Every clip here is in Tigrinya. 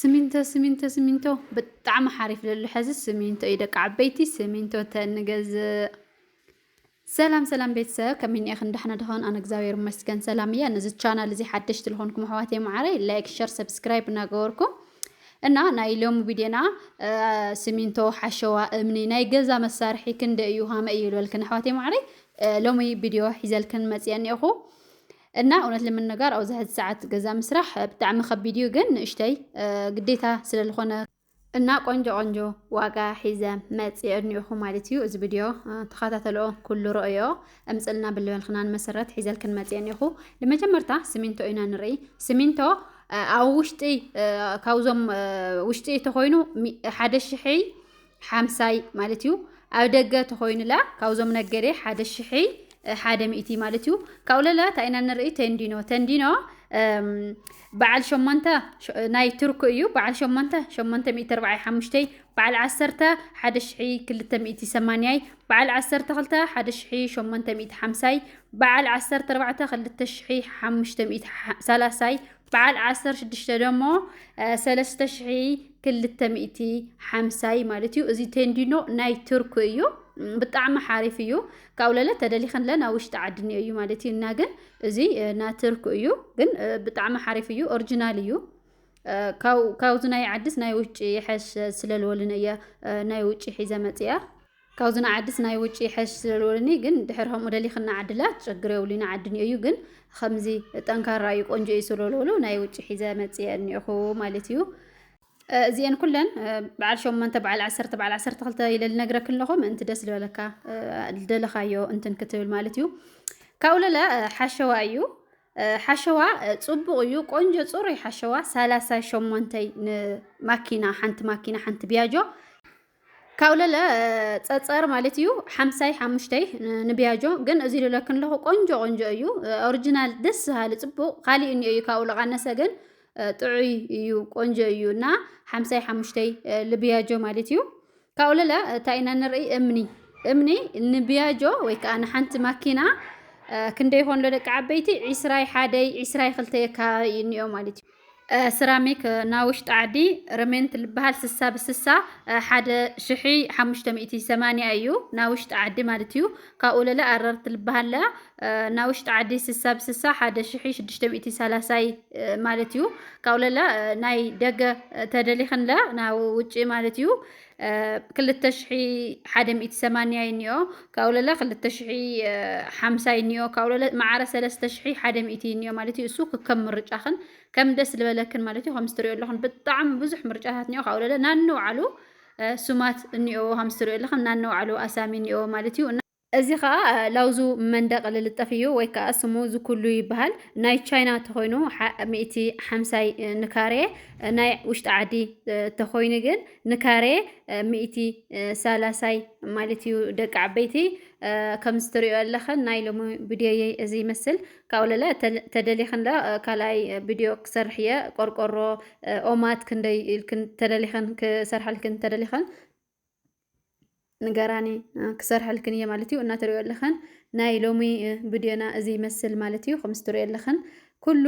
ስሚንቶ ስሚንቶ ስሚንቶ ብጣዕሚ ሓሪፍ ለሎ ሐዚ ስሚንቶ እዩ ደቂ ዓበይቲ ስሚንቶ ተንገዝእ ሰላም ሰላም ቤተሰብ ከመይ ኒኤኽን ዳሕና ድኾን ኣነ እግዚኣብሔር ይመስገን ሰላም እያ ነዚ ቻናል እዚ ሓደሽቲ ዝኾንኩም ኣሕዋት የማዓረይ ላይክ ሸር ሰብስክራይብ እናገበርኩም እና ናይ ሎሚ ቪድዮና ስሚንቶ ሓሸዋ እምኒ ናይ ገዛ መሳርሒ ክንደ እዩ ሃመ እዩ ዝበልክን ኣሕዋት የማዓረይ ሎሚ ቪድዮ ሒዘልክን መፅአ እኒኤኹ እና እውነት ልምንጋር ኣውዚ ሕዚ ሰዓት ገዛ ምስራሕ ብጣዕሚ ከቢድ እዩ ግን ንእሽተይ ግዴታ ስለልኾነ እና ቆንጆ ቆንጆ ዋጋ ሒዘ መፅእ እኒኦኹ ማለት እዩ እዚ ቪድዮ ተኸታተልኦ ኩሉ ርእዮ እምፅልና ብልበልክናን መሰረት ሒዘልክን መፅእ እኒኦኹ ንመጀመርታ ስሚንቶ ኢና ንርኢ ስሚንቶ ኣብ ውሽጢ ካብዞም ውሽጢ ተኾይኑ ሓደ ሽሕይ ሓምሳይ ማለት እዩ ኣብ ደገ ተኾይኑላ ካብዞም ነገዴ ሓደ ሽሒ ሓደ ሚእቲ ማለት እዩ ካብኡ ለላ ታይና ንርኢ ተንዲኖ ተንዲኖ በዓል ሸሞንተ ናይ ቱርክ እዩ በዓል ሸሞንተ ሸሞንተ ሚእቲ ኣርባዓይ ሓሙሽተይ በዓል ዓሰርተ ሓደ ሽሒ ክልተ ሚእቲ ሰማንያይ በዓል ዓሰርተ ክልተ ሓደ ሽሒ ሸሞንተ ሚእቲ ሓምሳይ በዓል ዓሰርተ ኣርባዕተ ክልተ ሽሒ ሓሙሽተ ሚእቲ ሰላሳይ በዓል ዓሰርተ ሽዱሽተ ደሞ ሰለስተ ሽሒ ክልተ ሚእቲ ሓምሳይ ማለት እዩ እዚ ቴንዲኖ ናይ ቱርክ እዩ ብጣዕሚ ሓሪፍ እዩ ካብኡ ለለ ተደሊኽን ለን ኣብ ውሽጢ ዓዲ እኒኦ እዩ ማለት እዩ እና ግን እዚ ናይ ቱርክ እዩ ግን ብጣዕሚ ሓሪፍ እዩ ኦሪጂናል እዩ ካብዚ ናይ ዓድስ ናይ ውጭ ይሐሽ ስለልወልን እየ ናይ ውጭ ሒዘ መፅያ ካብዚ ንዓድስ ናይ ውጪ ይሐሽ ስለልወልኒ ግን ድሕር ከምኡ ደሊክን ንዓድላ ትጨግር የብሉ ንዓድኒ እዩ ግን ከምዚ ጠንካራ እዩ ቆንጆ እዩ ስለልወሉ ናይ ውጪ ሒዘ መጽየ እኒኹ ማለት እዩ እዚኤን ኩለን በዓል ሸሞንተ በዓል ዓሰርተ በዓል ዓሰርተ ክልተ ኢለ ልነግረክ ኣለኹ ምእንቲ ደስ ዝበለካ ደለኻዮ እንትን ክትብል ማለት እዩ ካብኡ ለለ ሓሸዋ እዩ ሓሸዋ ፅቡቕ እዩ ቆንጆ ፅሩይ ሓሸዋ ሳላሳ ሸሞንተይ ንማኪና ሓንቲ ማኪና ሓንቲ ቢያጆ ካብኡ ለለ ፀፀር ማለት እዩ ሓምሳይ ሓሙሽተይ ንቢያጆ ግን እዚ ልለክን ለኹ ቆንጆ ቆንጆ እዩ ኦሪጂናል ደስ ዝሃሊ ፅቡቅ ካሊእ እኒኦ እዩ ካብኡ ለቃነሰ ግን ጥዑይ እዩ ቆንጆ እዩ እና ሓምሳይ ሓሙሽተይ ልቢያጆ ማለት እዩ ካብኡ ለለ እንታይ ኢና ንርኢ እምኒ እምኒ ንቢያጆ ወይ ከዓ ንሓንቲ ማኪና ክንደይ ይኾን ለደቂ ዓበይቲ ዒስራይ ሓደይ ዒስራይ ክልተየ ከባቢ እኒኦ ማለት እዩ ስራሚክ ናብ ውሽጢ ዓዲ ረሜንት ልበሃል ስሳ ብስሳ ሓደ ሽሒ ሓሙሽተ ሚእቲ ሰማንያ እዩ ናብ ውሽጢ ዓዲ ማለት እዩ ካብኡ ለለ ኣረርት ልበሃለ ናብ ውሽጢ ዓዲ ስሳ ብስሳ ሓደ ሽሒ ሽዱሽተ ሚእቲ ሰላሳይ ማለት እዩ ካብኡ ለለ ናይ ደገ ተደሊኽንለ ናብ ውጭ ማለት እዩ ክልተ ሽሒ ሓደ ሚእቲ ሰማንያ ይኒኦ ካብኡ ለለ ክልተ ሽሒ ሓምሳ ይኒኦ ካብኡ ለለ መዓረ ሰለስተ ሽሒ ሓደ ሚእቲ ይኒኦ ማለት እዩ እሱ ክከም ምርጫኽን ከም ደስ ዝበለክን ማለት እዩ ከምዚ ትሪኦ ኣለኹን ብጣዕሚ ብዙሕ ምርጫታት እኒኦ ካብኡ ለለ ናንውዓሉ ስማት እኒኦ ከምዚ ትሪኦ ኣለኽን ናንውዓሉ ኣሳሚ እኒኦ ማለት እዩ እዚ ከኣ ላውዙ መንደቅ ልልጠፍ እዩ ወይ ከኣ ስሙ ዝኩሉ ይበሃል ናይ ቻይና ተኾይኑ ሚእቲ ሓምሳይ ንካሬ ናይ ውሽጢ ዓዲ ተኾይኑ ግን ንካሬ ሚእቲ ሳላሳይ ማለት እዩ ደቂ ዓበይቲ ከምዚ ትሪኦ ኣለኽን ናይ ሎሚ ቪድዮየይ እዚ ይመስል ካብኡ ለለ ተደሊኽን ለ ካልኣይ ቪድዮ ክሰርሕ እየ ቆርቆሮ ኦማት ክንደይ ኢልክን ተደሊኽን ክሰርሓልክን ተደሊኽን ንገራኒ ክሰርሐልክን እየ ማለት እዩ እናተሪኦ ኣለኸን ናይ ሎሚ ቪድዮና እዚ ይመስል ማለት እዩ ከምዚ ትሪኦ ኣለኸን ኩሉ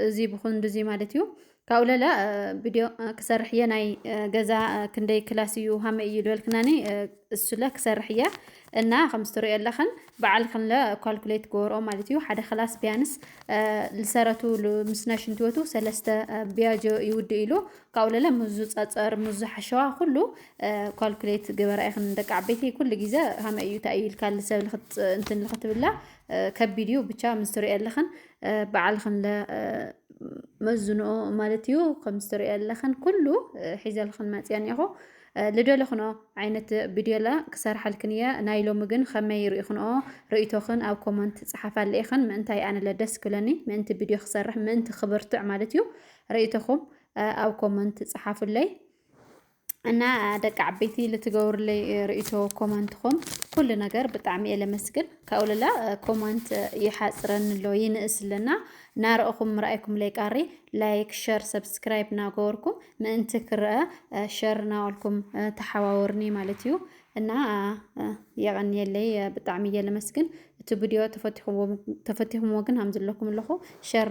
እዚ ብኩንዱ እዚ ማለት እዩ ካብኡ ለለ ቪድዮ ክሰርሕ እየ ናይ ገዛ ክንደይ ክላስ እዩ ሃመ እዩ ዝበልክናኒ እሱለ ክሰርሕ እየ እና ከምዚ ትሪኦ ኣለኸን በዓል ክንለ ኳልኩሌት ገበርኦ ማለት እዩ ሓደ ክላስ ቢያንስ ልሰረቱ ምስና ሽንትወቱ ሰለስተ ቢያጆ ይውድእ ኢሉ ካብኡ ለለ ምዙ ጸጸር ምዙ ሓሸዋ ኩሉ ኳልኩሌት ግበራ ኢኽን ደቂ ዓበይቲ ኩሉ ግዜ ሃመ እዩ እንታይ እዩ ኢልካ ልሰብ እንትን ልኽትብላ ከቢድ እዩ ብቻ ምስ ትሪኦ ኣለኽን በዓልኽን ለ መዝንኦ ማለት እዩ ከም ዝትሪኦ ኣለኽን ኩሉ ሒዘልኽን መፅኦ እኒኹ ልደለኽኖ ዓይነት ቪድዮላ ክሰርሓልክን እየ ናይ ሎሚ ግን ከመይ ርኢኽንኦ ርእቶኽን ኣብ ኮመንት ፀሓፋለ ኢኽን ምእንታይ ኣነለ ደስ ክብለኒ ምእንቲ ቪድዮ ክሰርሕ ምእንቲ ክብርትዕ ማለት እዩ ርእይቶኹም ኣብ ኮመንት ጽሓፉለይ እና ደቂ ዓበይቲ ልትገብሩለይ ርእይቶ ኮመንትኹም ኩሉ ነገር ብጣዕሚ እየ ለመስግን ካብኡ ልላ ኮመንት ይሓፅረኒ ኣሎ ይንእስ ኣለና ናርእኹም ምርኣይኩም ለይቃሪ ላይክ ሸር ሰብስክራይብ ናገበርኩም ምእንቲ ክረአ ሸር ናበልኩም ተሓዋወርኒ ማለት እዩ እና የቐንየለይ ብጣዕሚ እየ ለመስግን እቲ ቪድዮ ተፈቲኹምዎ ግን ሃምዝለኩም ኣለኹ ሸር